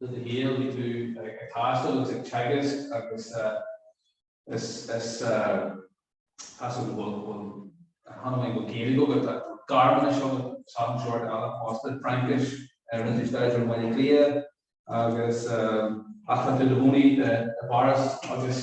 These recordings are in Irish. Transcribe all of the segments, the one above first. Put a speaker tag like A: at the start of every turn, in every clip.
A: de do shaol, bhí tú ag taisteal agus ag teagasc agus is cosúil, bhuel, chan amháin go bhfuil Gaeilge agat, tá Gearmáinis agat is achan sórt eile fosta, Fraincis a rinne tú staidéar air i mBaile Átha Cliath agus ach tá tú i do chónaí i bPáras agus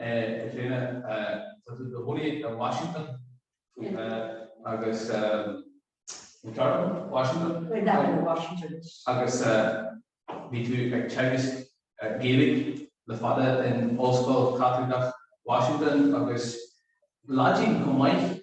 A: bhí tú tráth i do chónaí in Washington agus i gceantar Washington agus bhí tú ag teagasc Gaeilge le fada in Ollscoil Chaitliceach Washington agus Laidin chomh maith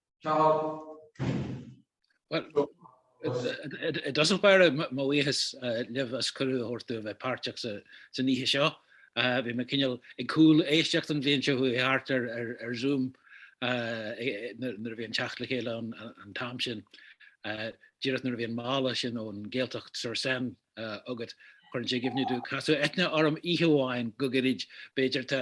B: I dtosach báire mo bhuíochas libh as cuireadh a thabhairt domh a bheith páirteach san oíche seo. Bhí mé cineál ag cúl éisteacht an bhliain seo a chuaigh thart ar Zoom nuair a bhí an teacht le chéile ann an t-am sin. Díreach nuair a bhí an mála sin ón nGaeltacht sur Seine agat chuireann sé i gcuimhne domh casadh Eithne orm oíche amháin go gairid b'fhéidir tá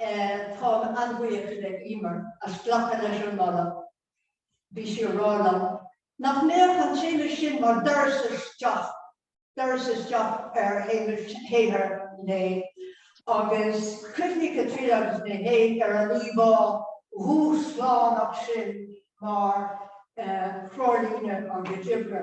C: Táim an-bhuíoch le Emer as glacadh leis an moladh. Bhí sí ag rá liom nach mbeadh an téama sin mar doras isteach, doras isteach ar shaothar Uí Néill. Agus chuimhnigh Caitríona agus mé féin ar an íomhá dhúshlánach sin mar threoirlíne ar a chuid oibre.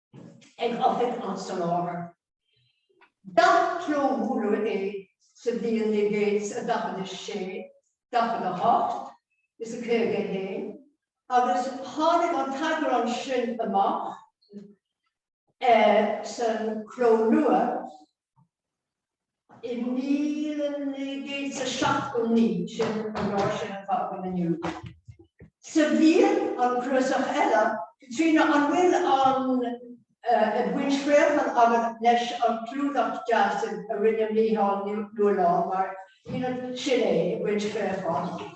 C: ag Oifig an tSoláthair. D'athchlóbhuaileadh é sa bhliain naoi gcéad 's a 46, 48 is a 51 agus tháinig an t-eagrán sin amach sa chló nua, I míle naoi gcéad 's a seachtó naoi, sin an dáta sin atá ar fáil inniu, sa bhliain an cnuasach eile, Tríona, an bhfuil an, eh, Ag Baint Fraochán agat leis an gclúdach deas sin a rinne Mícheál Ó Nualláin mar, shílid, sin é, Ag Baint Fraochán.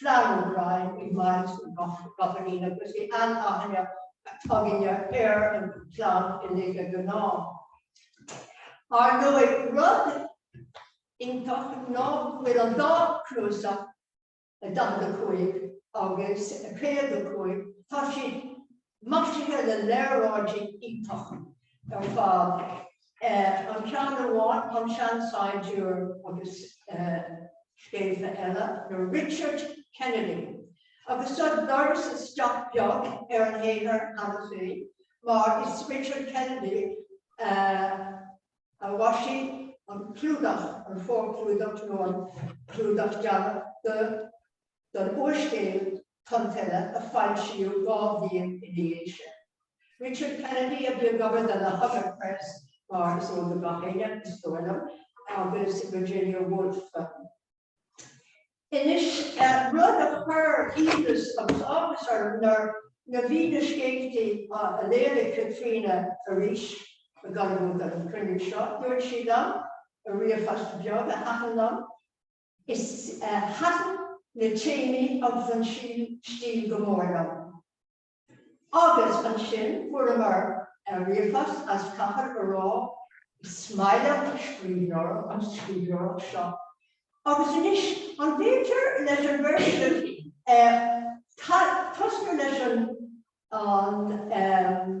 C: Flann O'Brien is Myles na gCopaleen agus bhí an-aithne againne ar an chlann uilig de ghnáth. Ar ndóigh, rud iontach ná go bhfuil an dá chnuasach, 45 agus 55, tá siad maisithe le léaráidí iontach ar fad, an ceann amháin An Seansaighdiúir agus Scéalta Eile le Richard Kennedy, agus tá doras isteach beag ar an shaothar cheana féin mar is Richard Kennedy a mhaisigh an clúdach, an forchlúdach nó an clúdach deannaigh. don úrscéal Tonn Tuile a foilsíodh dhá bhliain ina dhiaidh sin. Richard Kennedy a bhí ag obair don Hogarth Press, mar is eol do gach éinne, is dóigh liom, agus Virginia Woolf. Anois, rud a chuir iontas agus áthas orm nuair a bhí na scéalta á léamh ag Caitríona arís i gConamara don chruinniú seo, dúirt sí liom i ríomhphost beag, thaitin, Is thaitin na téamaí agus an stíl go mór liom. Agus ansin fuaireamar ríomhphost is caithfear a rá, is maith liom an scríbhneoireacht, an scríbhneoireacht seo. Agus anois, an féidir leis an bheirt agaibh tosnú leis an, an,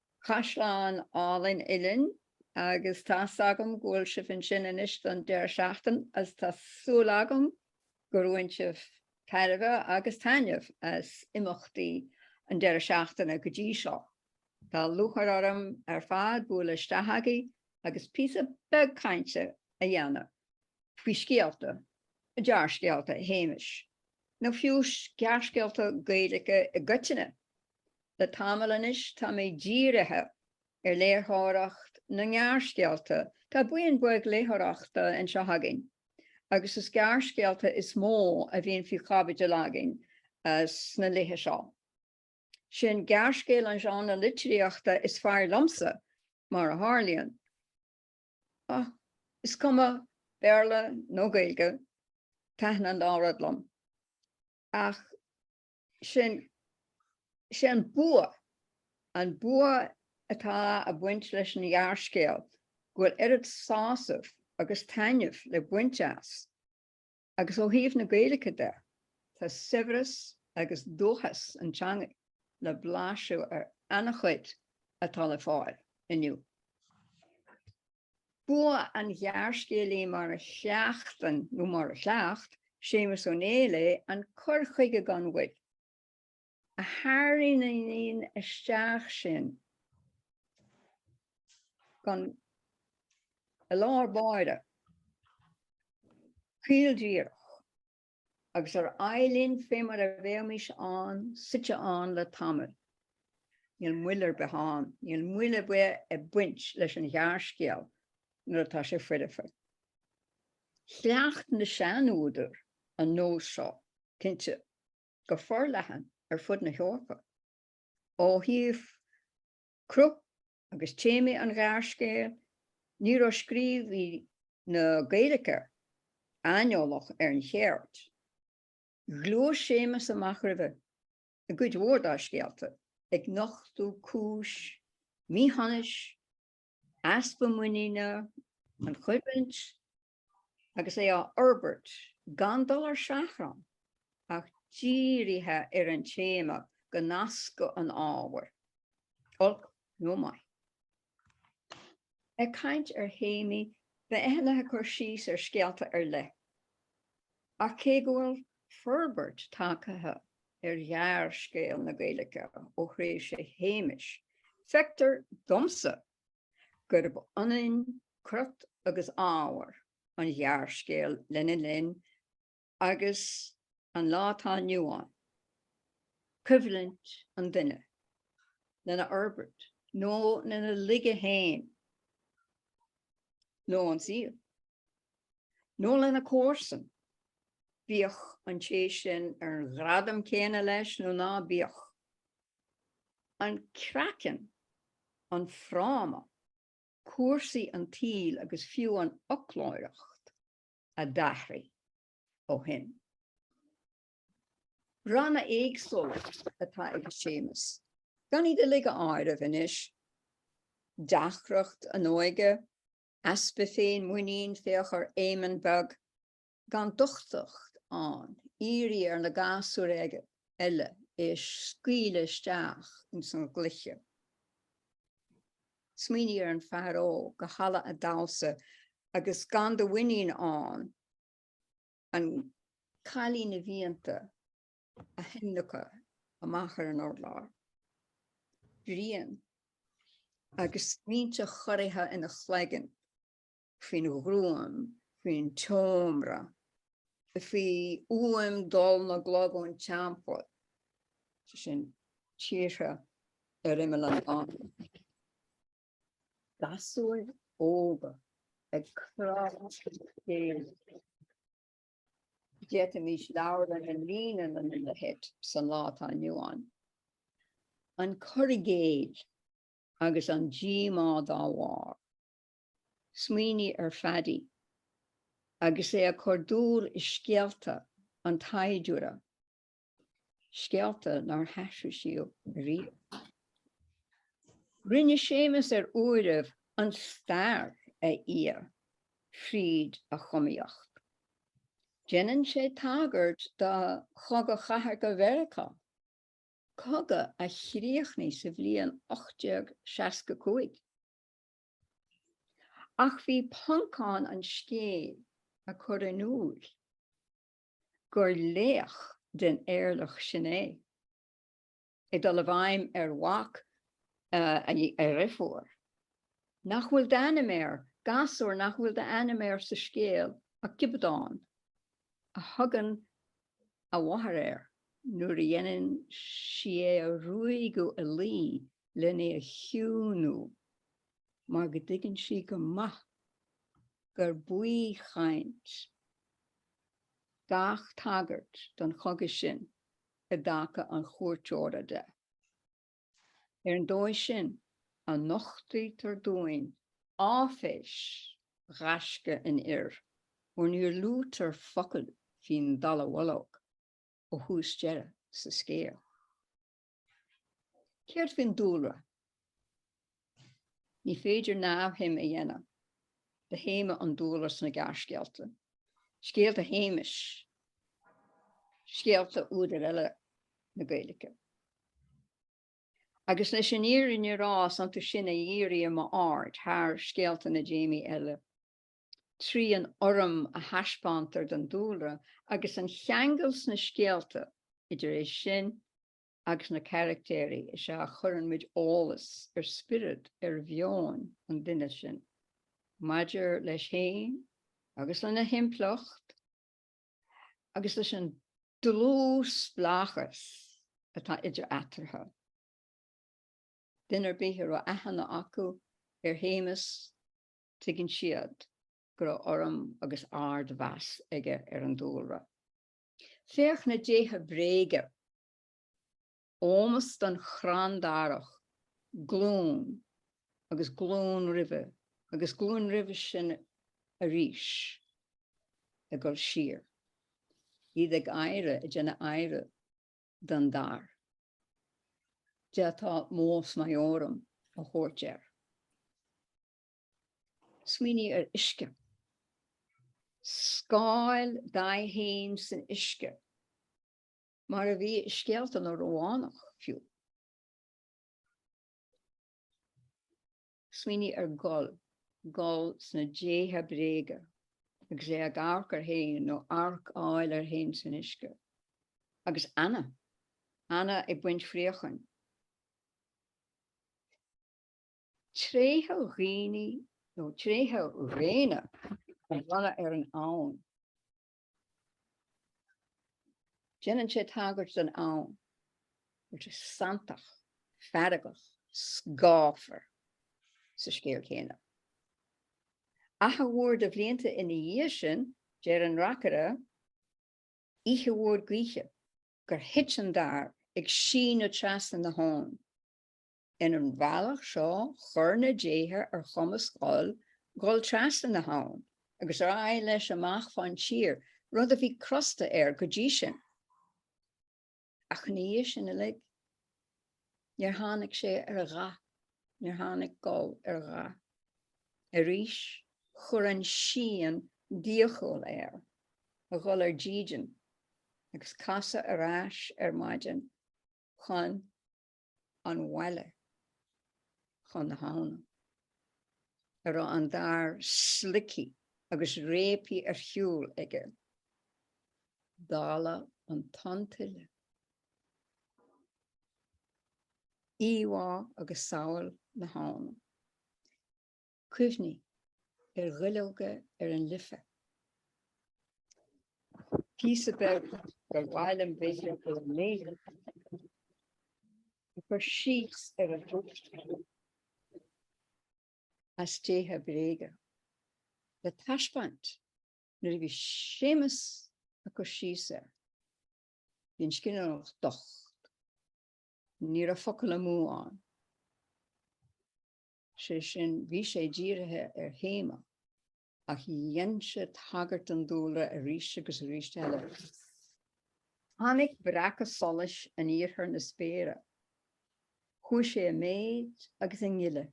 D: Caisleán álainn Uillinn agus tá 's agam go bhfuil sibh ansin anois don deireadh seachtain is tá súil agam gur bhain sibh tairbhe agus taitneamh as imeachtaí an deireadh seachtaine go dtí seo. Tá lúcháir orm ar fad bualadh isteach agaibh agus píosa beag cainte a dhéanamh faoi scéalta, gearrscéalta Shéamais, nó fiú gearrscéalta Gaeilge i gcoitinne. Le tamall anois tá mé dírithe ar léitheoireacht na ngearrscéalta. Tá buíon bheag léitheoireachta anseo againn agus is gearrscéalta is mó a bhíonn faoi chaibidil againn sna laetha seo. Sin gearrscéal an genre litríochta is fearr liomsa, mar a tharlaíonn. Ach is cuma Béarla nó Gaeilge, taitníonn an dá rud liom. Ach. sin, is é an bua, an bua atá ag baint leis an ghearrscéal go bhfuil oiread sásaimh agus taitneamh le baint as. Agus ó thaobh na Gaeilge de, tá saibhreas agus dúchas an teanga le blaiseadh ar an-chuid atá le fáil inniu. Bua an ghearrscéalaí mar a chleachtann, nó mar a chleacht, Séamus Ó Néill é, an cur chuige gan mhoill a tharraingíonn isteach sinn i lár an bháire, caoldíreach. agus ar aghaidh linn fé mar a bheimis ann, suite ann le tamall. Níl moill ar bith ann, níl moill ar bith ag baint leis an ghearrscéal nuair atá sé foirfe. Chleacht na seanúdair an nós seo, cinnte, go forleathan ar fud na hEorpa, ó thaobh cruth agus téamaí an ghearrscéil, ní raibh scríobhaí na Gaeilge aineolach ar an cheird. Ghluais Séamus amach roimhe i gcuid mhór dá scéalta, ag nochtadh cúis míshonais, easpa muiníne, an choimhlint, agus é á fhorbairt gan dul ar seachrán ach dírithe ar an téama go nascadh an ábhar, olc nó maith. Ag caint ar théamaí beidh Eithne ag cur síos ar scéalta ar leith, ach cé go bhfuil forbairt tagtha ar ghearrscéal na Gaeilge ó thréimhse Shéamais, feictear domsa gurb ionann crot agus ábhar an ghearrscéil lena linn agus an lá atá inniu ann, coimhlint an duine lena fhorbairt nó lena laige féin nó an saol, nó lena comharsan, bíodh an té sin ar an ghradam céanna leis nó ná bíodh. An craiceann, an fráma, cúrsaí an tsaoil agus fiú an fhoclóireacht a d'athraigh ó shin. Ranna éagsúla atá ag Séamus, gan iad uilig a áireamh anois, deacracht an óige, easpa féin-mhuinín, féach ar Éamonn Beag, gan d'uchtach ann, iarraidh ar na gasúir eile é a scaoileadh isteach ins an gcluiche. Smaoinigh ar an fear óg i halla a' damhsa agus gan de mhuinín ann an cailín a mhianta a thionlacan amach ar an urlár. Brian agus smaointe chorraithe ina chloigeann. faoin ghruaim, faoin tseomra, faoi fhuaim dul na gclog ón teampall, sé sin, tíortha ar imeall an domhain. Gasúir óga ag crá a chéile. D'fhéadfaimis leabharlann a líonadh lena leithéid sa lá atá inniu ann. An cur i gcéill agus an díomá dá bharr. Smaoinigh ar Phaddy agus é ag cur dúil i scéalta an tsaighdiúra, scéalta nár haithrisíodh ariamh. Rinne Séamus ar uairibh an stair a fhí fríd a chumaíocht. Déanann sé tagairt do Chogadh Chathartha Mheiriceá, cogadh a chríochnaigh sa bhliain 1865. Ach bhí Poncán an scéil a chur in iúl gur laoch den eirleach sin é, ag dul i bhfeidhm ar mhac a dheirfiúr, nach bhfuil d'ainm air, gasúr nach bhfuil d'ainm air sa scéal ach Giobadán, a thugann a mháthair air nuair a dhéanann sí é a ruaigeadh a luí len é a chiúnú mar go dtuigeann sí go maith gur baothchaint gach tagairt don chogadh sin i dtaca an chuairteora de. Ar an dóigh sin a nochtaítear dúinn áiféis ghaisce an fhir, óir níor luaitear focal faoin dallamhullóg ó thús deireadh sa scéal. Céard faoin dúlra? Ní féidir neamhshuim a dhéanamh de théama an dúlra sna gearrscéalta, scéalta Shéamais, scéalta údar eile na Gaeilge. Agus leis an fhírinne a rá is iontu sin a dhírigh m'aird thar scéalta na dtéamaí eile, trí an urraim a thaispeántar don dúlra agus an cheangal sna scéalta idir é sin agus na caractéirí is ea a chuireann muid eolas ar spiorad, ar mheon, an duine sin, maidir leis fhéin agus lena thimpeallacht agus leis an dlúthspleáchas atá idir eatarthu. Duine ar bith a raibh aithne acu ar Shéamus tuigeann siad go raibh urraim agus ardmheas aige ar an dúlra. Féach na déithe bréige. Ómos don chrann darach, glúin agus glúin roimhe sin arís ag dul siar, iad ag adhradh, ag déanamh adhradh don dair. D'fhéadfá mos maiorum a thabhairt air. Smaoinigh ar uisce. Scáil d'aghaidh fhéin san uisce, mar a bhí i scéalta na Rómhánach, fiú. Smaoinigh ar Goll, Goll sna déithe bréige, agus é ag amharc air fhéin, nó amharc a fháil air fhéin san uisce. Agus Anna. Anna ag baint fraocháin. Tréithe dhaoine nó tréithe dhaonna a bhronnadh ar an abhainn. Déanann sé tagairt don abhainn mar sé santach, feargach, scáfar sa scéal céanna. Achar mhór de bhlianta ina dhiaidh sin, deir an reacaire, oíche mhór gaoithe, gur thit an dair ag síneadh trasna na habhann. Ins an bhealach seo chuir na déithe ar chumas Ghoill dul trasna na habhann agus ar aghaidh leis amach fán tír, rud a bhí crosta air go dtí sin. Ach ina dhiaidh sin uilig, níor tháinig sé ar a dhath, níor tháinig Goll ar a dhath arís. Chuir an síon d'iachall air a dhul ar dídean agus casadh ar ais ar maidin chun. an bhaile chun na habhna, a raibh an dair sloigthí agus réabthaí ar shiúl aige, dála an tonn tuile. Íomhá agus samhail na habhna. Cuimhnigh ar dhuilleoga ar an Life. Píosa beag gur mhaith liom b'fhéidir a léamh, ag cur síos ar an drúcht as déithe bréige le taispeáint nuair a bhí Séamus ag cur síos air. Bhí an scríbhneoireacht docht. Ní raibh focal amú ann. sé sin bhí sé dírithe ar théama ach dhéan sé tagairt don dúlra arís agus arís eile. Tháinig breacadh solais in iarthar na spéire. Chuaigh sé i méid agus i ngile.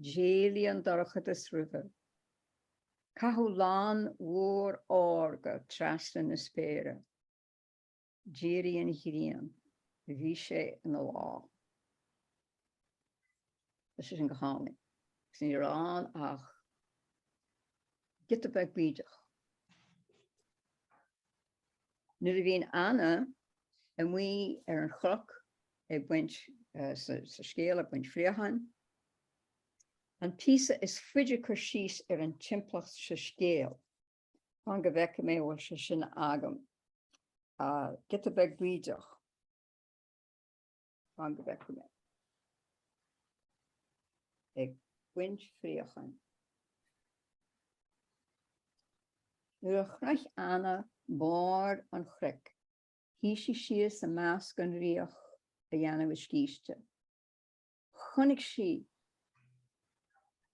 D: D'éalaigh an dorchadas roimhe. Caitheadh lann mhór órga trasna na spéire. D'éirigh an ghrian. Bhí sé ina lá. Leis sin go tháinig. Agus ní raibh ann ach giota beag bídeach. Nuair a bhíonn Anna amuigh ar an chnoc ag baint sa scéal ag baint fraochán, an píosa is faide cur síos ar an timpeallacht sa scéal. Fan go bhfeicfidh mé bhfuil sé sin agam. Ah, giota beag bídeach. Fan go bhfeicfidh mé. Ag baint fraochán. Nuair a shroich Anna barr an chnoic, shuigh sí síos i measc an fhraoch a dhéanamh a scíste. Chonaic sí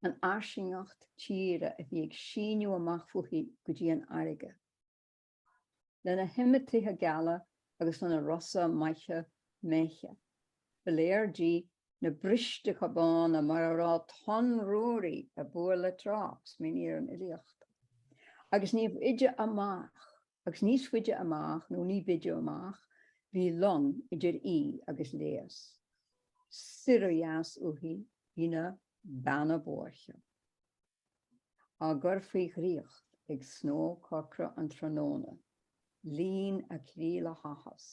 D: an fhairsingeacht tíre a bhí ag síneadh amach fúithi go dtí an fharraige, lena hiomad tithe geala agus lena rosa maithe méithe. Ba léir di na bristeacha bána mar a raibh Tonn Ruairí ag bualadh le trácht, míníonn an fhilíocht, agus níbh fhaide amach agus níos faide amach nó ní b'fhaide amach bhí long idir í agus léas. Soir ó dheas uaithi bhí na Beanna Boirche á gcur faoi dhraíocht ag snódh corcra an tráthnóna. Líon a croí le háthas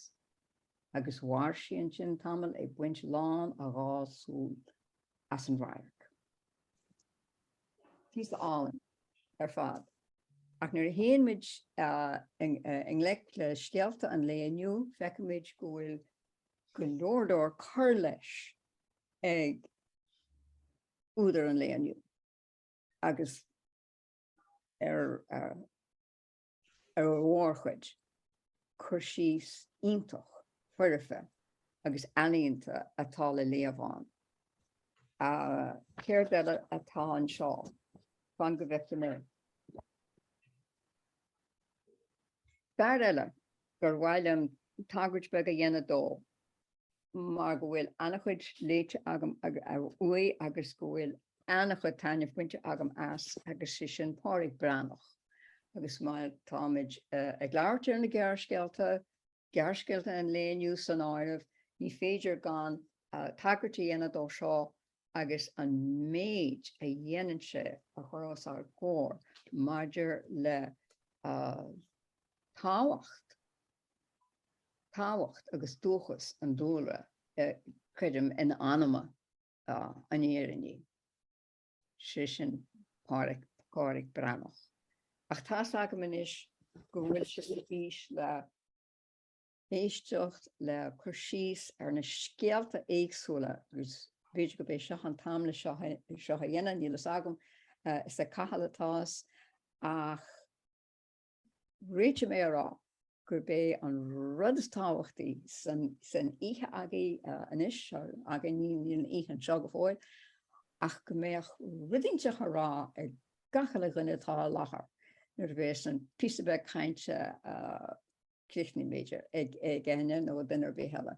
D: agus mhair sí ansin tamall ag baint lán a dhá súl as an radharc. Píosa álainn ar fad. Ach nuair a théann muid i ngleic le scéalta an lae inniu, feicimid go bhfuil go leor leor cur leis ag údair an lae inniu agus ar an mhórchuid, cur síos iontach foirfe agus ealaíonta atá le léamh ann. Céard eile atá anseo? Fan go bhfeicfidh mé. Fear eile gur mhaith liom tagairt beag a dhéanamh dó, mar go bhfuil an-chuid léite agam uaidh agus go bhfuil an-chuid taitnimh bainte agam as agus sé sin Pádraic Breathnach agus má táimid ag labhairt ar na gearrscéalta, gearrscéalta an lae inniu san áireamh, ní féidir gan tagairt a dhéanamh dó seo agus an méid a dhéanann sé a chur os ár gcomhair maidir le tábhacht tábhacht agus dúchas an dúlra a chuirim in anam an fhírinnigh, sé sin Pádraic Breathnach. Ach tá's agam anois go bhfuil sibh ar bís le héisteacht le cur síos ar na scéalta éagsúla agus b'fhéidir gurb é seo an t-am le seo a dhéanamh, níl a fhios agam. Is ag Cathal atá's ach. Déarfadh mé gurb é an rud is tábhachtaí san oíche againn anois, againn, níl an oíche anseo go fóill, ach go mbeadh rud inteacht le rá ag gach uile dhuine atá i láthair nuair a bheas an píosa beag cainte críochnaithe, b'fhéidir, ag éinne nó ag duine ar bith eile.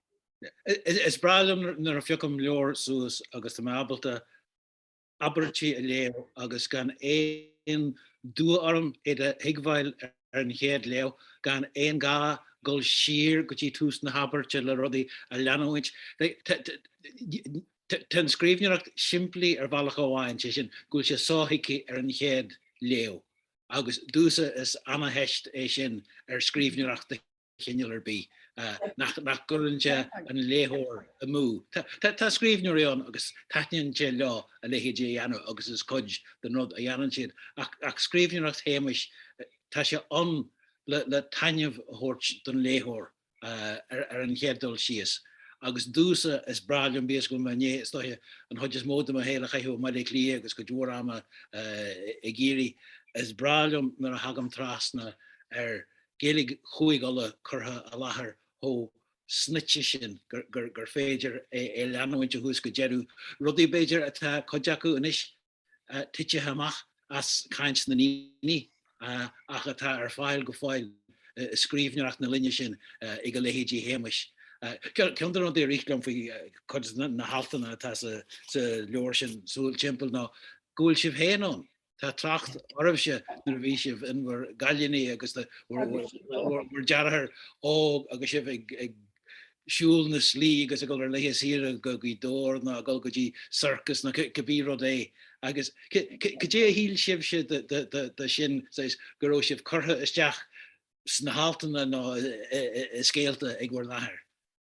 B: Is breá liom nuair a phiocaim leabhar suas agus tá mé ábalta abairtí a léamh agus gan aon dua orm iad a thuigmheáil ar an chéad léamh, gan aon ghá dul siar go dtí tús na habairte le rudaí a leanúint. Tá an scríbhneoireacht simplí ar bhealach amháin, sé sin go bhfuil sé sothuigthe ar an chéad léamh agus domhsa is an-teist é sin ar scríbhneoireacht de chineál ar bith nach gcuireann sé an léitheoir amú. Tá scríbhneoirí ann agus taitníonn sé leo a leithéid a dhéanamh agus is cuid den rud a dhéanann siad. Ach scríbhneoireacht Shéamais, tá sé ann le taitneamh a thabhairt don léitheoir ar an chéad dul síos. Agus domhsa, is breá liom bíodh is go bhfuil mé i ndiaidh, is dóiche, an chuid is mó de mo shaol a chaitheamh i mBaile Átha Cliath agus cuid mhór ama i gCiarraí, is breá liom nuair a thagaim trasna ar Gaeilge Chúig Uladh curtha i láthair chomh snoite sin gur féidir é a leanúint ó thús go deireadh, rudaí, b'fhéidir, atá, cuid acu anois, titithe amach as caint na ndaoine ach atá ar fáil go fóill i scríbhneoireacht na linne sin ag a leithéid Shéamais. Ceann de na rudaí a rith liom faoi chuid de na haltanna atá sa leabhar sin, Súil Timpeall, ná go bhfuil sibh féin ann, Tá trácht oraibhse nuair a bhí sibh in bhur gcailíní agus bhur deartháir óg agus sibh ag siúl na slí agus ag dul ar laetha saoire go Gaoth Dobhair ná ag dul go dtí circus ná cibé rud é agus cad é a shíl sibhse de sin saghas go raibh sibh curtha isteach sna haltanna ná i scéalta ag bhur n-athair?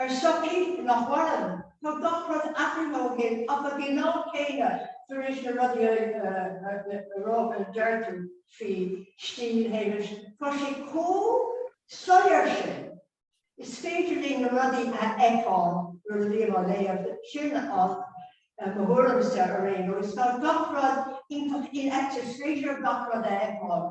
C: Ar shochaí nach maireann, tá gach rud athraithe ó shin ach ag an am céanna tar éis na rudaí a rá a deir tú faoi stíl Shéamuis, tá sé chomh soiléir sin, is féidir linn na rudaí a fheiceáil nuair a bhím á léamh, sin mo thuairimse ar aon nós. Tá gach rud iontach infheicthe, is féidir gach rud a fheiceáil.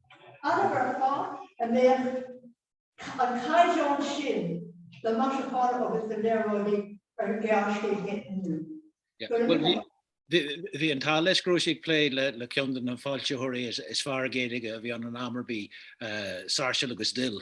C: Admhairfeá a mbeadh an caighdeán sin de mhaisiúcháin agus de léaráidí ar
B: ghearrscéal inniu. Bhí an t-ádh leis go raibh sé ag plé le ceann de na foilsitheoirí is fearr Gaeilge a bhí ann in am ar bith, Sáirséal agus Dill.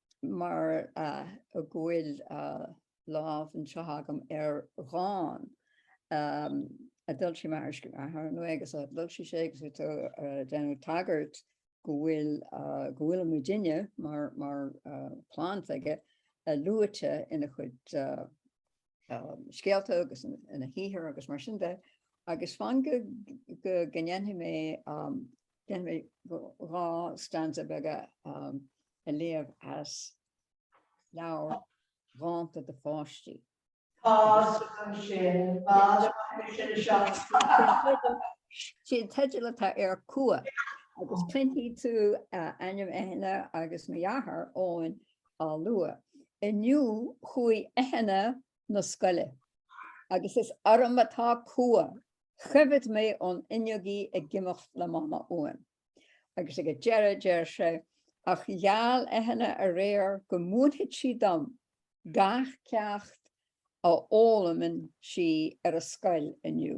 D: mar go bhfuil lámh anseo agam ar dhán a d'fhoilsigh m'athair agus a d'fhoilsigh sé agus tú ag déanamh tagairt go bhfuil go bhfuil muidinne mar chlann aige luaite ina chuid scéalta agus ina shaothar agus mar sin de agus fan go ndéanfaidh mé dhá stanza beaga a léamh as leabhar Dánta do Pháistí. Sé an teideal atá air, Cumha, agus cluinfidh tú ainm Eithne agus mo dhearthár Eoin á lua. Inniu chuaigh Eithne na scoile, agus is orm atá cumha, choimhéad mé ón fhuinneog í ag imeacht le Mama uaim. Agus ag an deireadh deir sé, Ach gheall Eithne aréir go múinfeadh sí dom gach ceacht a fhoghlaimeann sí ar an scoil inniu.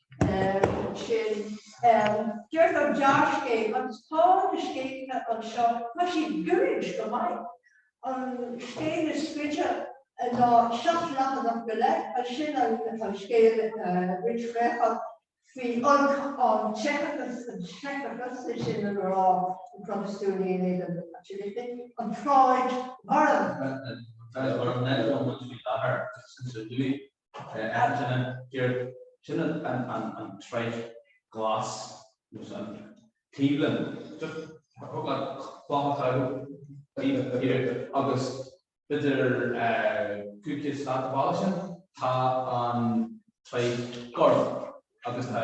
C: sin. Deir an gearrscéal agus tá na scéalta anseo, tá siad goirid go maith. An scéal is faide ná seacht leathanach go leith, ansin an scéal rinchríochach faoi olc an tseicteachais, an seicteachas, sé sin an grá, na Protastúnaigh in éadan na Caitlicigh, an troid mharbh.
A: Acht sin an dearg, sin an troid ghlas, nó an taobhlinn. Thug an cloch aghaidh daoibh go hÉirinn agus b'fhéidir cúig chéad stad abhaile sin tá an troid gorm agus tá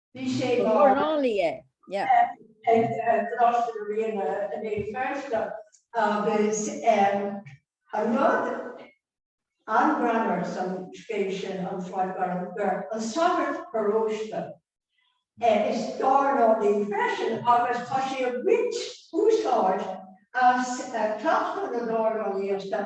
C: Bhí sé mar. Dornálaí é.
D: Yeah.
C: Ag Coláiste na Ríona i mBéal Feirste agus an rud an-ghreannmhar san scéal sin An Sráid Gorm gur an sagart paróiste is dornálaí freisin agus tá sé ag baint úsáid as cleachtadh na dornálaíochta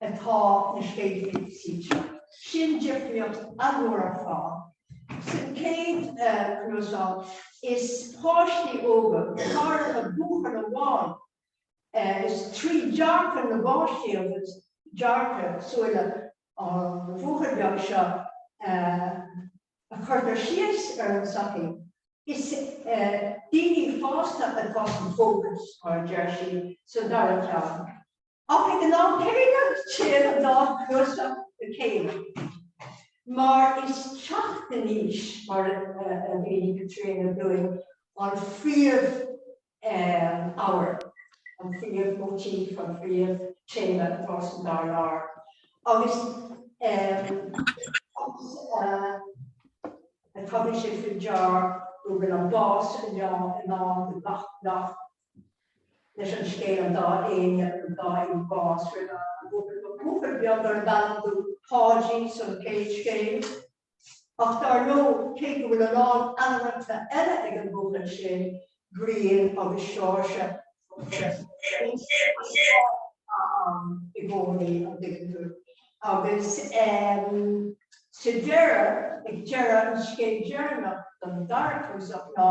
C: atá na scéalta suite. Sin difríocht a déarfá. Sa chéad cnuasach, is páistí óga, go háirithe buachaill amháin, is trí dearcadh na bpáistí agus dearcadh, súile, an bhuachaill beag seo a chuirtear síos ar an tsochaí. Is daoine fásta atá sa bhfócas, mar a deir sí sa dara ceann. Ach ag an am céanna, téann an dá chnuasach le chéile, mar is teacht in aois, mar a dúirt Caitríona dúinn, an phríomh-ábhar, an phríomh-motif, an phríomh-téama atá san dá leabhar. Agus tá sé faoi deara go bhfuil an bás ar an meán i ndán do gach leis an scéal an dá éinne an dá in bás roimh an an bhfuair bhuachaill beag darb ainm dó Páidí san chéad scéal ach dar ndóigh cé go bhfuil a lán ainmneacha eile ag an bhuachaill sin Brian agus Seoirse i gcónaí an dtuigeann tú agus sa deireadh ag deireadh an scéal deireanach don dara cnuasach ná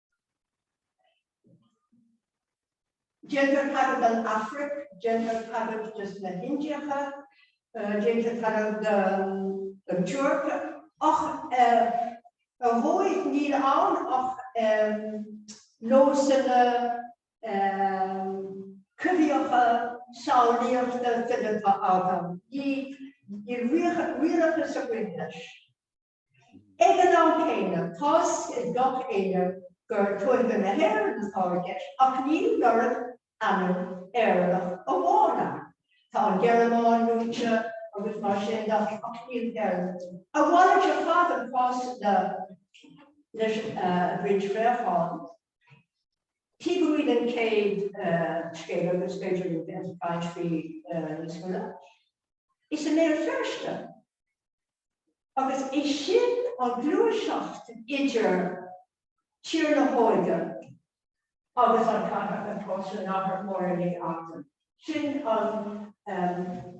C: Déantar tagairt don Afraic, déantar tagairt dos na hIndiacha, déantar tagairt don Tuirc ach ar dhóigh níl ann ach nósanna coimhthíocha samhlaíochta fileata, níl réalachas ag roinnt leis. Ag an am céanna, tá's ag gach éinne gur Tuaithe na hÉireann atá i gceist, ach níl logainm Éireannach amháin ann. Tá an Ghearmáin luaite agus mar sin de, ach níl Éire luaite. A mhalairt ar fad an cás leis an roinnt préachán. Teideal an chéad scéal agus b'fhéidir linn bheith ag caint faoi níos moille. Is i mBéal Feirste. agus é sin an ghluaiseacht idir Tír na hÓige agus an chathair atá sa nathair mór inné acu. Sin an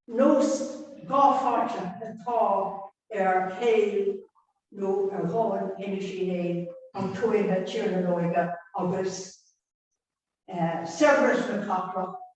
C: nós dhá-pháirteach atá ar shaol nó ar dhomhan Inis Uí Néill, an tuaithe, Tír na nÓige, agus saibhreas na cathrach,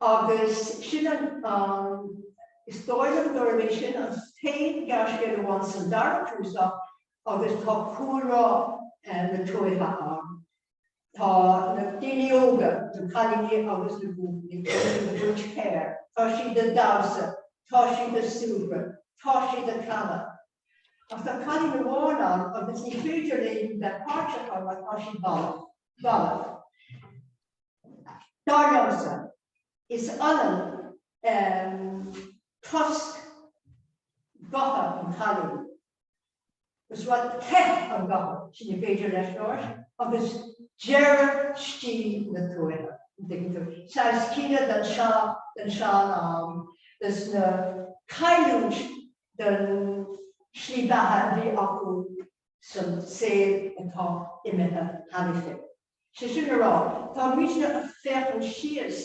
C: Agus sin an, is dóigh liom gurb é sin an t-aon ghearrscéal amháin sa dara cnuasach agus tá cúlra na tuaithe ann. Tá na daoine óga, na cailíní agus na buachaillí, tá siad ag tabhairt féir, tá siad ag damhsa, tá siad ag súgradh, tá siad ag canadh. Ach tá cailín amháin ann agus ní féidir léi bheith páirteach mar tá sí balbh. Dar liomsa, is ionann tost gutha an chailín, agus rud te an ghutha sin a b'fhéidir leis labhairt, agus deireadh stíl na tuaithe, an dtuigeann tú, saghas caoineadh den sean-am, agus na cailliúint den slí beatha a bhí acu san saol atá imithe cheana féin. Sé sin le rá, tá muidne ag féachaint síos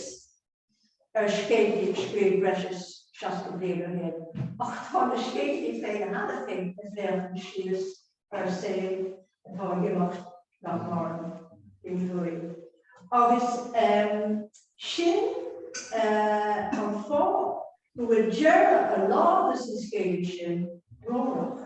C: ar scéilín a scríobhadh breis is seasca bliain ó shin, ach tá na scéilíní féin cheana féin ag féachaint síos ar saol atá ag imeacht, nach maireann, in Éirinn. Agus sin an fáth go bhfuil deireadh a lán des na scéilíní sin brónach.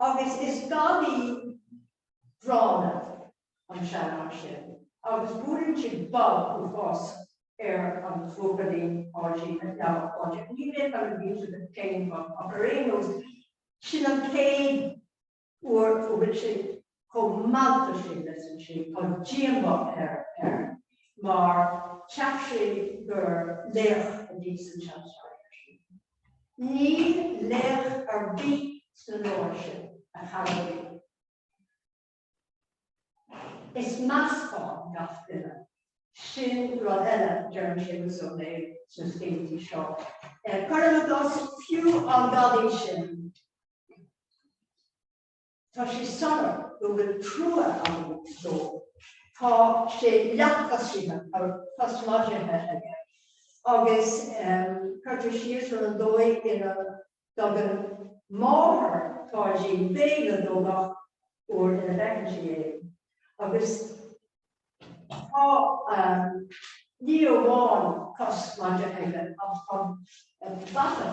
C: Agus is gadaí gránna an seanfhear sin, agus buaileann sé bob uafásach ar an bprópalén áirithe a d'fheall Pádraig. Ní bheadh orm a mhíniú duit cén fáth, ach ar aon nós, sin an chéad uair a bhfuil sé Chomh maith leis sin, measann sé, tá díomá air mar cheap sé gur laoch a bhí sa tseanfhear sin. Níl laoch ar bith sna leabhair sin, a chara liom. Is meascán gach duine. Sin rud eile a deireann Séamus Ó Néill sna scéaltaí seo. Cuirim i gcás fiú an gadaí sin. Tá sé soiléir go bhfuil trua agam dó. Tá sé ar leathchois, tá cos mhaide aige agus cuirtear síos ar an dóigh ina dtugann máthair Pháidín béile dó gach uair ina bhfeiceann sí é agus, Tá ní amháin cos mhaide aige ach tá bata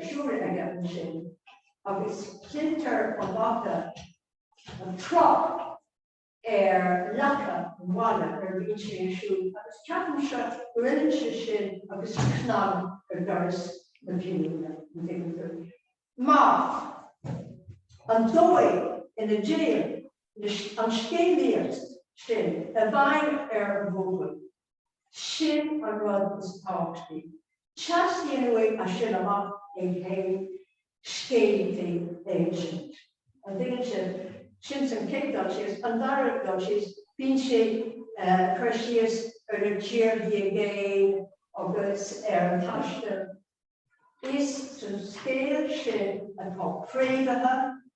C: siúil aige ansin agus cluintear an bata an tráth ar leaca an bhaile nuair a bhíonn sé ag siúl agus ceapaimse gurb ionann é sin agus cnag ar doras na fírinne, an dtuigeann tú. Mar an dóigh ina dtéann leis an scéalaíocht sin a bheidh ar an bhfód, sin an rud is tábhachtaí. Teastaíonn uaidh as sin amach é féin scéalaíochtaí a insint. An dtuigeann sibh? Sin an chéad dul síos. An dara dul síos, bíonn sé ag cur síos ar na tíorthaí i gcéin agus ar an taisteal. Is sa scéal sin atá fréamhaithe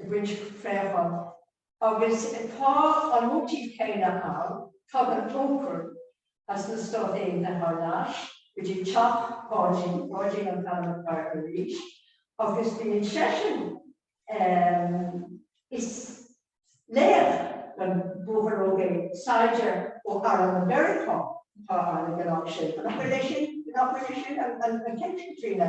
C: ag baint préachán. Agus tá an móitíf céanna ann, tagann Poncán as na Stáit Aontaithe thar n-ais go dtí teach Pháidí, Páidí an Feirmeoir, arís agus bíonn seisean is laoch don bhuachaill óg é, saighdear ó arm Mheiriceá atá ann ag an am sin. An acu leis sin, an acu leis sin an ceist, Caitríona?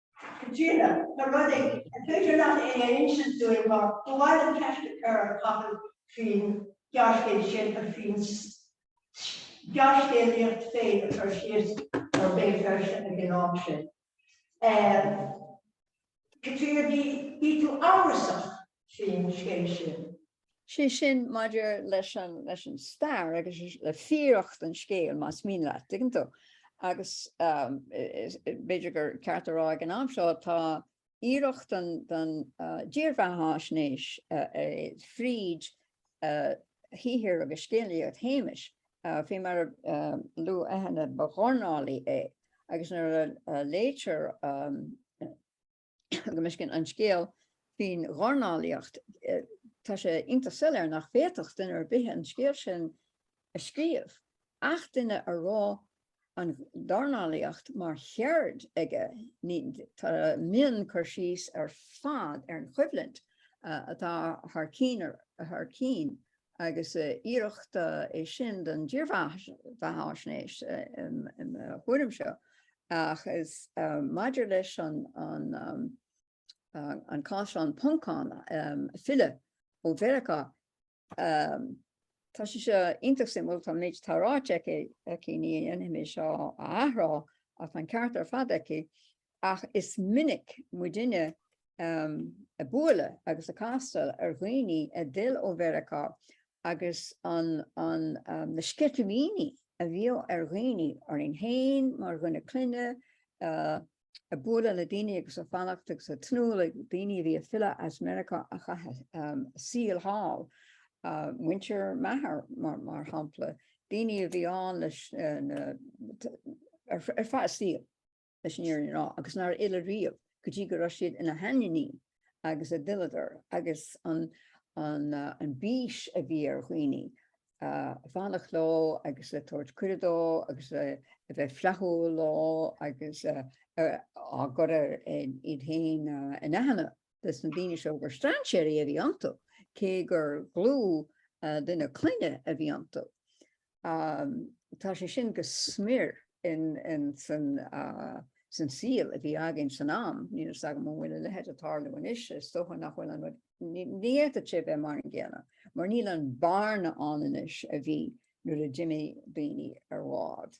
C: Caitríona, tá rud ag, an féidir leat é a insint dúinn mar ba mhaith liom ceist a chur ar Chathal faoin ghearrscéal sin agus faoin ghearrscéalaíocht féin ag cur síos ar Béal Feirste ag an am sin. Eh, Caitríona, bhí tú amhrasach faoin scéal sin.
D: Sé sin, maidir leis an stair agus le fíoracht an scéil, más mian leat, dtuigeann tú. Agus b'fhéidir gur ceart a rá ag an am seo, tá iarracht den dírbheathaisnéis fríd shaothar agus scéalaíocht Shéamais, fé mar a luadh cheana, ba dhornálaí é agus nuair a léitear, go miscin an scéal faoin dhornálaíocht, tá sé iontach soiléir nach bhféadfadh duine ar bith an scéal sin a scríobh, ach duine a raibh an dornálaíocht mar cheird aige, ní, tá, I mean, cur síos ar fad ar an choimhlint atá thar cinn, thar cinn, agus iarracht é sin den dírbheathaisnéis, im, im thuairimse, Ach is maidir leis an cás an Poncán filleadh ó Mheiriceá, tá sé seo iontach suimiúil, tá méid atá ráite aici, ní dhéanfaidh mé seo a athrá, ach tá an ceart ar fad aici, ach is minic muidinne ag bualadh agus ag castáil ar dhaoine a d'fhill ó Mheiriceá agus na sceitimíní a bhíodh ar dhaoine orainn féin mar dhuine clainne ag bualadh le daoine agus ag fanacht agus ag tnúth le daoine a bhí ag filleadh as Meiriceá a chaith a saol thall, muintir m'athar, mar shampla, daoine a bhí ann leis ar feadh a saoil. leis an fhírinne a rá, agus nár fhill riamh go dtí go raibh siad ina sheandaoine agus a d'fhilleadar, agus an bís a bhí ar dhaoine fanacht leo agus ag tabhairt cuireadh dóibh agus a bheith flaithiúil leo agus ag cur iad féin in aithne dos na daoine seo gur strainséirí a bhí iontu, cé gur dhlúth duine clainne a bhí iontu. Tá sé sin go smior insan saol a bhí againn san am. Níl fhios agam an bhfuil a leithéid ag tarlú anois, is dócha nach bhfuil an rud, ní fhéadfadh sé bheith mar an gcéanna mar níl an bhearna ann anois a bhí nuair a d'imigh daoine ar bhád.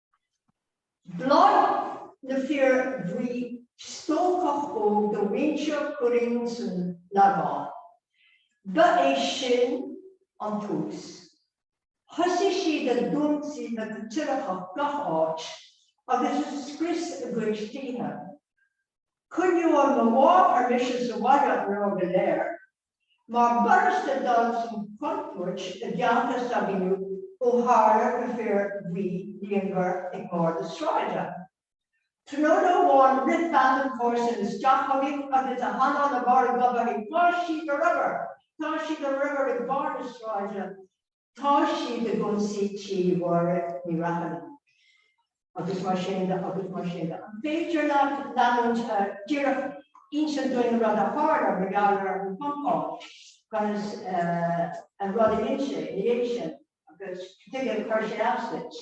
C: Mharaigh na fir bhuí, stócach óg de mhuintir Churraoin san Lagán. Ba é sin an tús. Thosaigh siad a dh'ionsaí na gCaitliceach gach áit agus a scrios a gcuid tithe. Choinníodh mo mháthair mise sa bhaile an lá go léir Mar b'fhurasta dul san chontúirt i gceantar s'againne ó tharla na fir bhuí líonmhar ag barr na sráide. Tráthnóna amháin rith bean an chomharsan isteach chugainn agus a hanáil i mbarr a goib aici, Tá siad ar obair! Tá siad ar obair ag barr na sráide! Tá siad ag ionsaí tí Mháire Ní Fhratharna agus mar sin de agus mar sin de. An féidir leat leanúint díreach inse dúinn an rud a tharla mar gheall ar an Phoncán agus an rud a rinne sé ina dhiaidh sin agus cad tuige gur chuir sé as duit?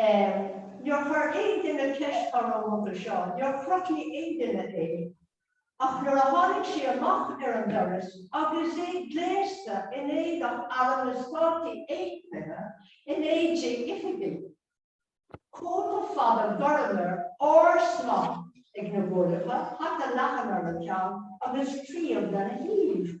C: Em, níor chuir aon duine ceist orm roimhe seo, níor chrothnaigh aon duine é, ach nuair a tháinig sé amach ar an doras agus é gléasta in éadach Airm na Státaí Aontaithe, in éide oifigigh, cóta fada gorm air, árd-smock ag na guailleacha, hata leathan ar a cheann agus claíomh lena thaobh.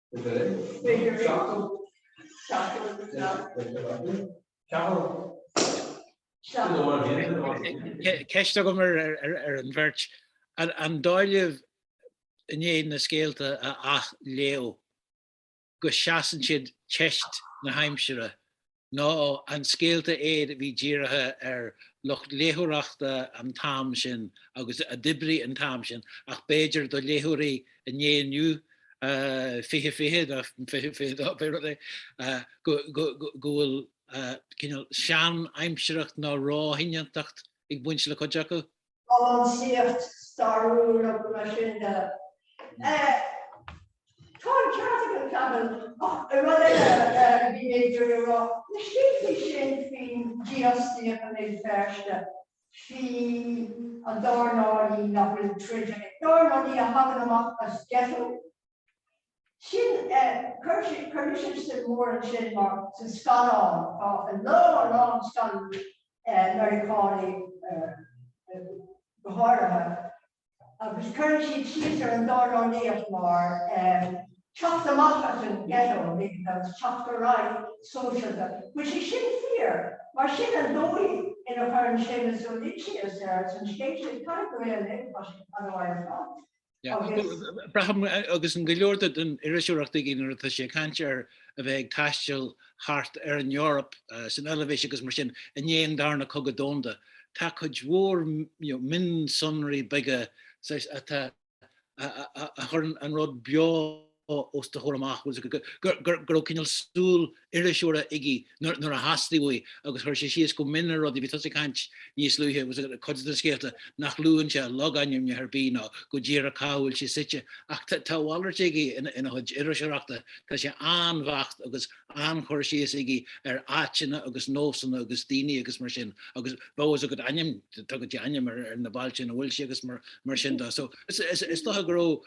B: Ceist agam ar an bheirt, an dóigh libh i ndiaidh na scéalta a athléamh go seasann siad teist na haimsire ná an scéalta iad a bhí dírithe ar lucht léitheoireachta an t-am sin agus a d'oibrigh an t-am sin ach b'fhéidir do léitheoirí an lae inniu, 2020, ná 2022, pé rud é, go bhfuil cineál sean-aimsireacht ná róshoineantacht ag baint le cuid acu. an
C: sliocht stairiúil agus mar sin de. Tá an ceart ag Antain ach rud eile, bhí tú ag rá na sliochtaí sin faoin díoscaíocht i mBéal Feirste faoin dornálaí nach bhfuil troid an dornálaí a thagann amach as ghetto Sin, chuir mise suim mhór ansin mar sna scannáin, tá a lán, a lán scannáin Mheiriceánacha go háirithe, agus cuireann siad síos ar an dornálaíocht mar teacht amach as an ghetto, agus teacht ar aghaidh go sóisialta. Bhuel, tá sé sin fíor, mar sin an dóigh ina gcuireann Séamus Ó Lyncheus air san scéal sin, caithfidh go bhfuil an oiread faic ann.
B: Braithim agus an go leor den iriseoireacht aige nuair atá sé ag caint ar a bheith ag taisteal thart ar an Eoraip san Eilvéis agus mar sin i ndiaidh an darna Cogadh Domhanda. Tá cuid mhór mionsonraí aige a chuireann an rud beo os do chomhair amach, go raibh cineál súil iriseora aige nuair a theastaigh uaidh agus chuir sé síos go mion ar rudaí, bhí tusa ag caint níos luaithe, cuid de na scéalta nach luann sé logainmneacha ar bith ná go díreach cá bhfuil sé suite ach tá a mhalairt aige ina chuid iriseoireachta, tá sé an-bheacht agus an-chur síos aige ar áiteanna agus nósanna agus daoine agus mar sin agus bheadh fhios agat ainm, tugann sé ainm ar na bailte ina bhfuil sé agus mar sin de so is dócha go raibh.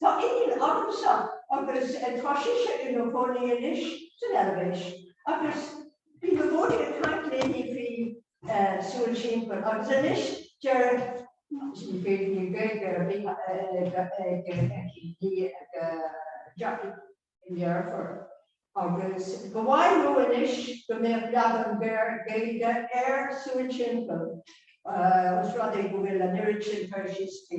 C: Tá iníon agamsa agus tá sise ina chónaí anois san Eilvéis agus bhí mé go mór ag caint léi faoi súil timpeall agus anois deir siad ní féidir linn Gaeilge a bheith ag Jackie i ngearrfar agus go mhaith leo anois go mbeadh leagan géar Gaeilge ar Súil Timpeall ós rud é go bhfuil an oiread sin toisí sa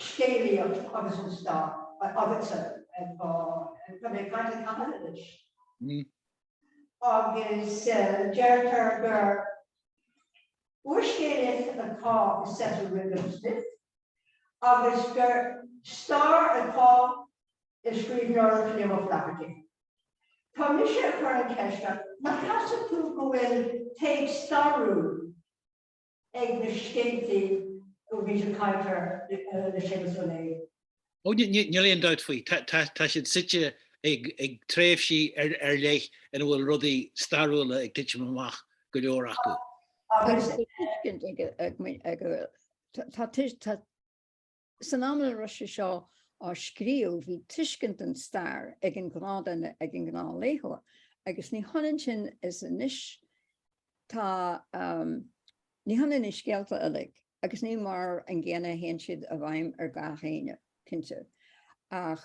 C: scéalaíocht agus an stair agus tá mé ag caint faoi Cheanada anois, agus deirtear gur úrscéalaíocht atá i saothar Smith agus gur stair atá i scríbhneoireacht Liam O'Flaherty. Tá mise ag cur an cheist ort, an gceapann tú go bhfuil taobh stairiúil ag na scéalta a bhfuil muid ag caint
B: orthu le Séamus Ó Néill. Ó, níl aon dabht faoi, tá siad suite ag tréimhsí ar leith ina bhfuil rudaí stairiúla ag titim amach, go leor acu. Tá tuiscint ag muintir
D: na. San am a raibh sé seo á scríobh, bhí tuiscint den stair ag an ghnáthduine, ag an ngnáthléitheoir, agus ní hionann sin is anois. Tá, ní hionann na scéalta uilig, agus ní mar an gcéanna a théann siad i bhfeidhm ar gach éinne, cinnte. Ach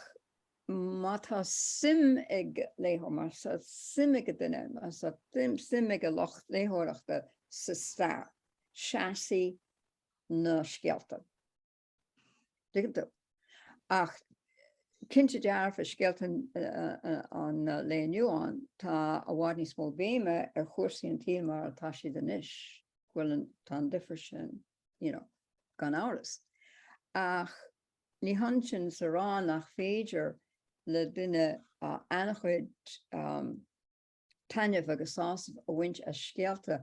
D: má tá suim ag léitheoir, má tá suim ag an duine, má tá suim ag an lucht léitheoireachta sa stair, seasfaidh na scéalta. Ach cinnte dearfa scéalta an lae inniu ann, tá i bhfad níos mó béime ar chúrsaí an tsaoil mar atá siad anois, go bhfuil an, tá an difear sin, gan amhras. Ach ní hionann sin is a rá nach féidir le duine an-chuid, taitneamh agus sásamh a bhaint as scéalta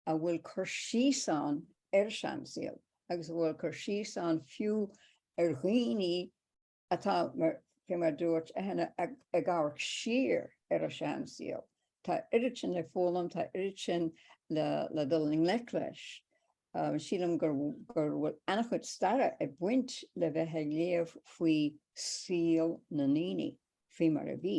D: a bhfuil cur síos ann ar an seansaol agus a bhfuil cur síos ann fiú ar dhaoine atá mar, fé mar a dúirt Eithne, ag amharc siar ar a seansaol. Tá oiread sin le foghlaim, tá oiread sin le dul i ngleic leis. Sílim go bhfuil an-chuid staire ag baint le bheith ag léamh faoi saol na ndaoine fé mar a bhí.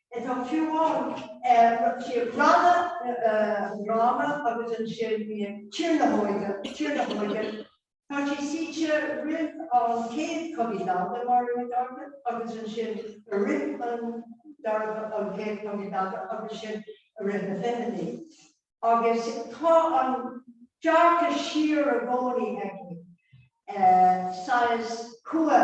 C: Tá fiú ann sna drámaí agus ansin bíonn Tír na hÓige, Tír na hÓige. Tá sí suite i rith an Chéad Chogaidh Domhanda, Máire Nic Artáin, agus ansin i rith an dara, an Chéad Chogaidh Domhanda agus sin i rith na bhfichidí. Agus tá an dearcadh siar i gcónaí aige, saghas cumha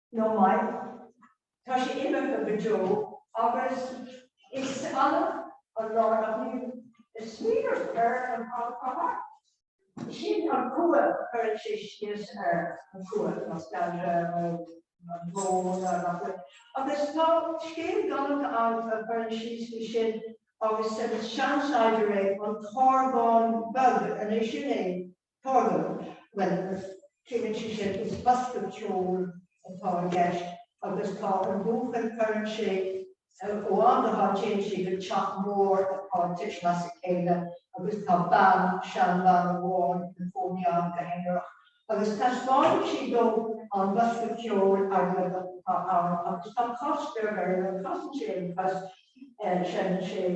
C: nó maith. Tá sé imithe go deo agus is annamh an lá nach bhfuil ag smaoineamh ar an Chathair Chatha. Sin an cumha, cuireann sé síos ar an chumha, nostalgia nó an bhó ná nach bhfuil. Agus tá scéal galánta ann a chuireann síos faoi sin agus sa Seansaighdiúir, An tOrgán Beag, an é sin é An tOrgán. Bhuel, síleann sí sin is bosca ceoil atá i gceist agus tá an buachaill, cuireann sé ó am go ham téann siad chuig teach mór atá ag titim as a chéile agus tá bean, seanbhean amháin ina cónaí ann go haonarach agus taispeánann sí dó an bosca ceoil airgeadach atá ann agus tá cos beag air nó casann sé an chos, seineann sé.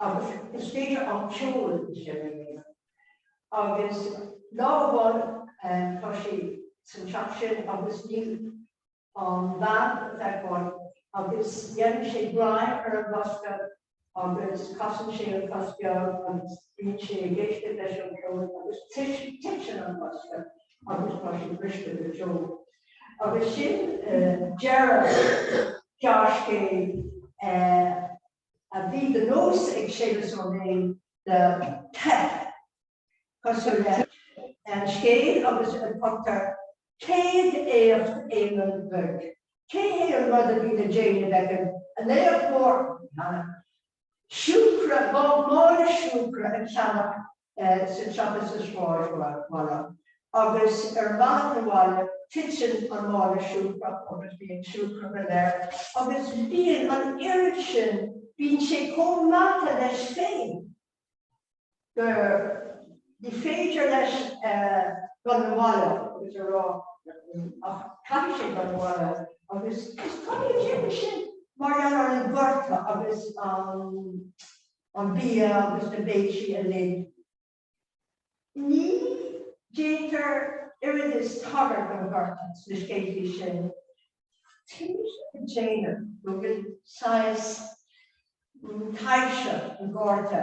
C: Agus is féidir an ceol sin a dhéanamh. Agus lá amháin tá sé san teach sin agus níl an bhean le feiceáil agus déanann sé greim ar an bhosca agus casann sé an cos beag agus bíonn sé ag éisteacht leis an ceol agus titeann an bosca agus tá sé briste go deo. Agus sin deireadh gearrscéil a bhí de nós ag Séamus Ó Néill le teip cosúil le an scéal agus ar a dtugtar 'Céad Éacht Éamoinn Bhig'. Cad é an rud a bhí le déanamh ag an laoch mór? Siúcra, mála siúcra a cheannach sa tsiopa sa sráidbhaile, agus ar an mbealach na bhaile titeann an mála siúcra agus bíonn siúcra go léir agus bíonn an oiread sin, bíonn sé chomh meata leis féin go, ní féidir leis dul na bhaile agus a rá ach caithfidh sé dul na bhaile agus is cad é a déarfadh sé mar gheall ar an ghorta agus an. an bia agus na béiltí uilig. Ní déantar oiread is tagairt don ghorta sna scéaltaí sin. Céard a déanann go bhfuil saghas taibhse an ghorta?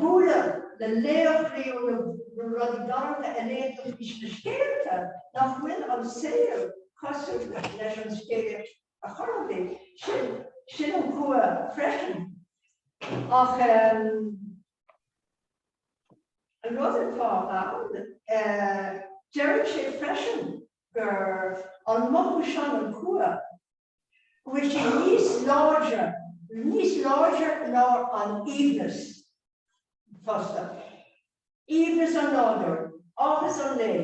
C: bualadh le laochraí ó na rudaí galánta a léann tú faoi sna scéalta nach bhfuil an saol cosúil leis an scéal ar chor ar bith, sin, sin an cumha freisin. Ach an rud atá ann, deireann sé freisin, gur an mothú sin an cumha, go bhfuil sé níos láidre, níos láidre ná an aoibhneas fosta, aoibhneas an nádúir, áthas an lae,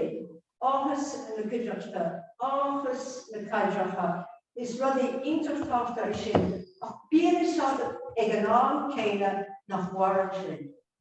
C: áthas na cuideachta, áthas na paidreacha, is rudaí iontach tábhachtach iad sin ach bíonn a fhios agat ag an am céanna nach mhaireann sin.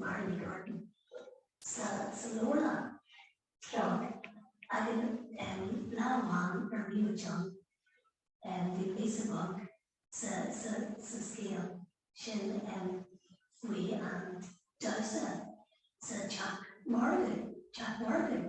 E: Máire Nic Artáin sa leabharlann seo againn lá amháin ar mhí na dtonn. Bhí píosa beag sa scéal sin faoi an damhsa sa teach margaidh, teach margaidh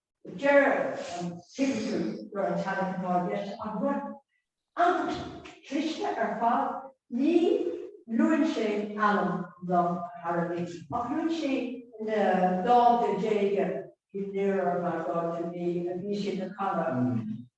C: Deir an t-irisleabhar go raibh an Titanic atá i gceist agamsa iontach cliste ar fad. Ní luann sé ainm an árthaigh, ach luann sé na dánta diaga Nearer My God to Thee a bhí siad a chanadh.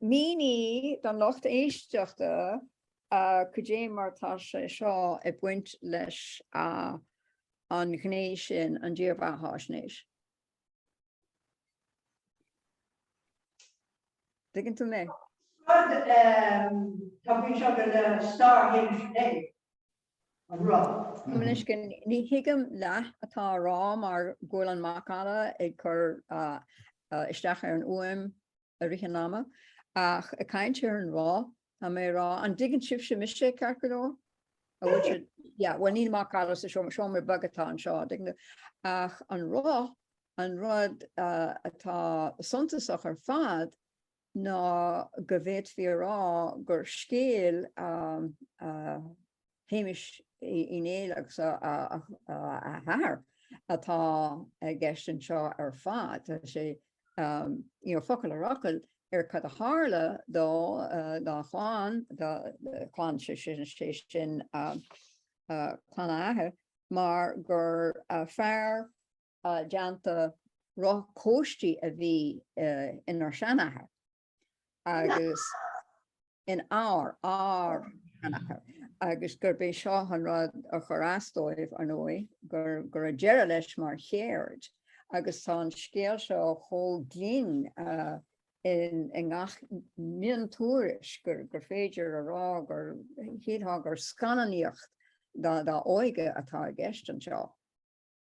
D: Mínigh don lucht éisteachta cad é mar atá sé seo ag baint leis an ghné sin, an dírbheathaisnéis. Dtuigeann tú mé?
C: Tá bhí seo go le stair Shéamais Laoi. a rá. Mar anois,
D: ní thuigim leath atá á rá mar go bhfuil an macalla ag cur isteach ar an uaim i rith an ama. Ach ag caint ar an rá, tá mé ag rá, an dtuigeann sibhse mise, ceart go leor? An bhfuil sé, yeah, bhuel níl macalla sa seomra, seomra beag atá anseo, an dtuigeann tú. Ach an rá, an rud atá suntasach ar fad ná go bhféadfaí a rá gur scéal Shéamais Uí Néill agus a athar atá i gceist anseo ar fad. Tá sé focal ar fhocal ar cad a tharla dó, dá chlann, dá chlann, sé sin clann a athar, mar gur fear déanta roth cóistí a bhí inár seanathair agus in ár ár seanathair agus gurb é seo an rud a chuir as dóibh, ar ndóigh, gur go raibh deireadh leis mar cheird agus tá an scéal seo chomh glinn i ngach miontuairisc gur féidir a rá gur shílfeá gur scannánaíocht dá óige atá i gceist anseo.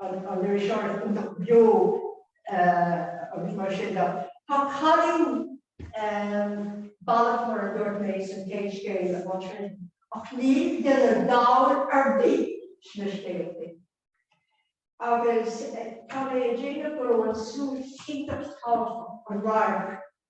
C: an iriseoireacht iontach beo agus mar sin de. Tá cailín balbh mar a dúirt mé san chéad scéal a bhí sin ach níl duine dall ar bith sna scéaltaí. Agus tá mé ag déanamh go raibh an súil iontach tábhachtach, an radharc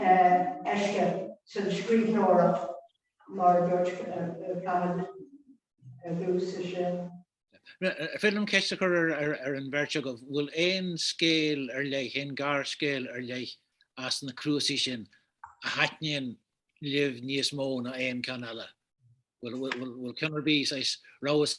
B: éisteacht san scríbhneoireacht mar a dúirt Cathal dtús i sin. Féidir liom ceist a chur ar an bheirt agaibh, bhfuil aon scéal ar leith, aon ghearrscéal ar leith as na cnuasaigh sin a thaitníonn libh níos mó ná aon cheann eile? Bhfuil ceann ar bith, saghas rabhas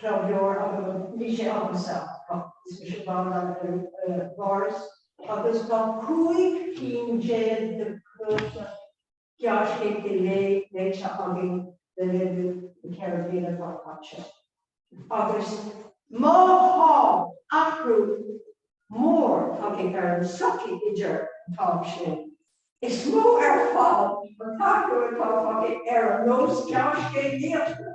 C: club leabhar agam, bhí sé agamsa, is mise ball an bhforas, agus tá cúig cinn déag de chnuasaigh gearrscéalta léite againn le linn na ceithre bliana atá caite. Agus má tá athrú mór tagtha ar an tsochaí idir an t-am sin, is mó ar fad an t-athrú atá tagtha ar an nós gearrscéalaíochta.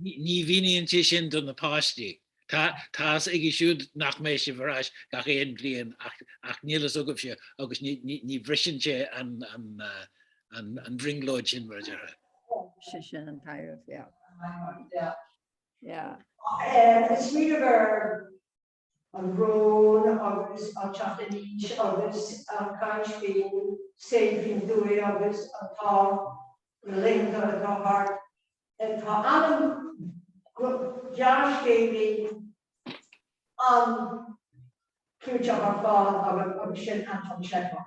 C: Ní
B: mhíníonn sé sin do na páistí. Tá's aige siúd nach mbeidh sibh ar ais gach aon bhliain ach níl a fhios agaibhse agus ní bhriseann sé an bhrionglóid sin, mar a déarfá. Sin, sin
D: an tarraingt.
C: Yeah. Yeah. Uh, it's really an bhrón agus an teacht in aois agus ag caint faoin saol faoin dtuaith agus na laethanta atá thart. Tá ainm gearrscéalaí an-chlúiteach ar fáil agam agus sin Anton Chekhov.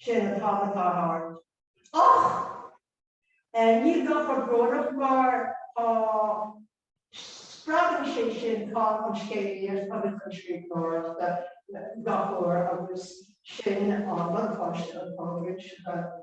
C: Sin an t-am atá thart. Ach ní gá a bheith brónach mar tá spreagann sé sin tá an scéalaíocht agus an scríbhneoireacht go fóill agus sin an buntáiste atá againn.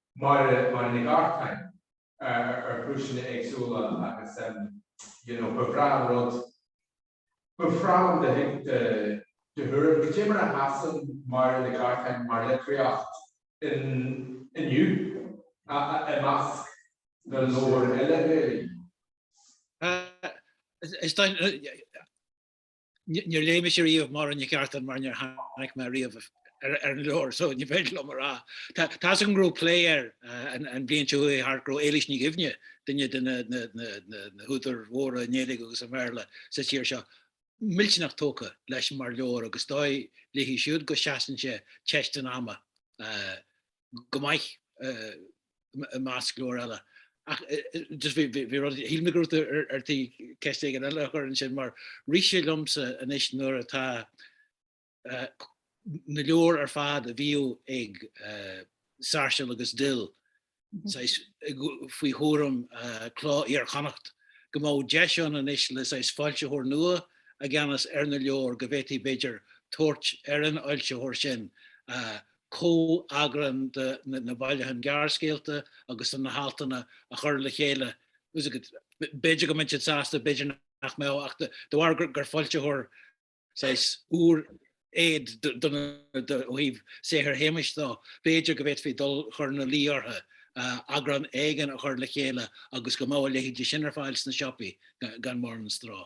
A: Máire Nic Artáin ar chúiseanna éagsúla agus you know ba bhreá an rud, ba bhreá liom do do thuairim, cad é mar a sheasann Máire Nic Artáin mar litríocht in inniu a a i measc na leabhar eile Gaeilge.
B: Is dóigh, Níor léigh mise riamh Máire Nic Artáin mar níor tháinig mé riamh ar an leabhar so ní féidir liom é a rá. Tá's agam go raibh plé air an bhliain seo chuaigh thart go raibh Éilís Ní Dhuibhne, duine de na húdair mhóra i nGaeilge agus i mBéarla sa tír seo, millteanach tógtha leis mar leabhar agus is dóigh léi siúd go seasann sé teist an ama go maith i measc leabhar eile. Ach just bhí rud, shíl mé go raibh tú ar tí ceist éigin eile a chur ansin mar rith sé liomsa anois nuair atá na leabhair ar fad a bhíodh ag Sáirséal agus Dill saghas faoi chúram Cló Iar-Chonnacht go mbeadh deis ann anois le saghas foilsitheoir nua i gceannas ar na leabhair go bhféadfaí b'fhéidir tabhairt ar an fhoilsitheoir sin comheagrán de na bailiúcháin gearrscéalta agus de na haltanna a chur le chéile. B'fhéidir go mbeidís sásta, b'fhéidir nach mbeadh, ach de bharr gur foilsitheoir saghas úr é ó thaobh saothar Shéamuis de, b'fhéidir go bhféadfaí dul chur ina luí orthu eagrán éigin a chur le chéile agus go mbeadh a leithéidí sin ar fáil sna siopaí gan mórán stró.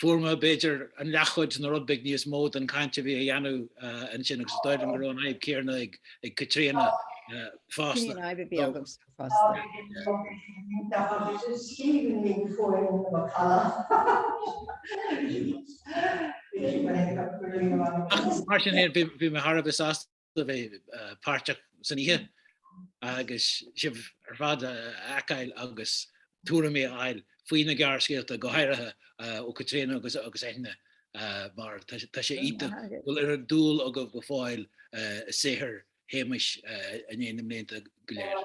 B: Fuair mé, b'fhéidir, an leathchuid nó rud beag níos mó den chaint a bhí a dhéanamh ansin agus is dóigh liom go raibh an fhadhb chéanna ag Caitríona fosta. Sin an fhadhb a bhí agam fosta. Ach mar sin féin, bhí mé thar a bheith sásta. a bheith páirteach san oíche agus sibh ar fad a fheiceáil agus tuairimí a fháil faoi na gearrscéalta, go háirithe ó Caitríona agus Eithne mar tá sé iontach go bhfuil an dúil agaibh go fóill i saothar Shéamuis i ndiaidh na mblianta go léir.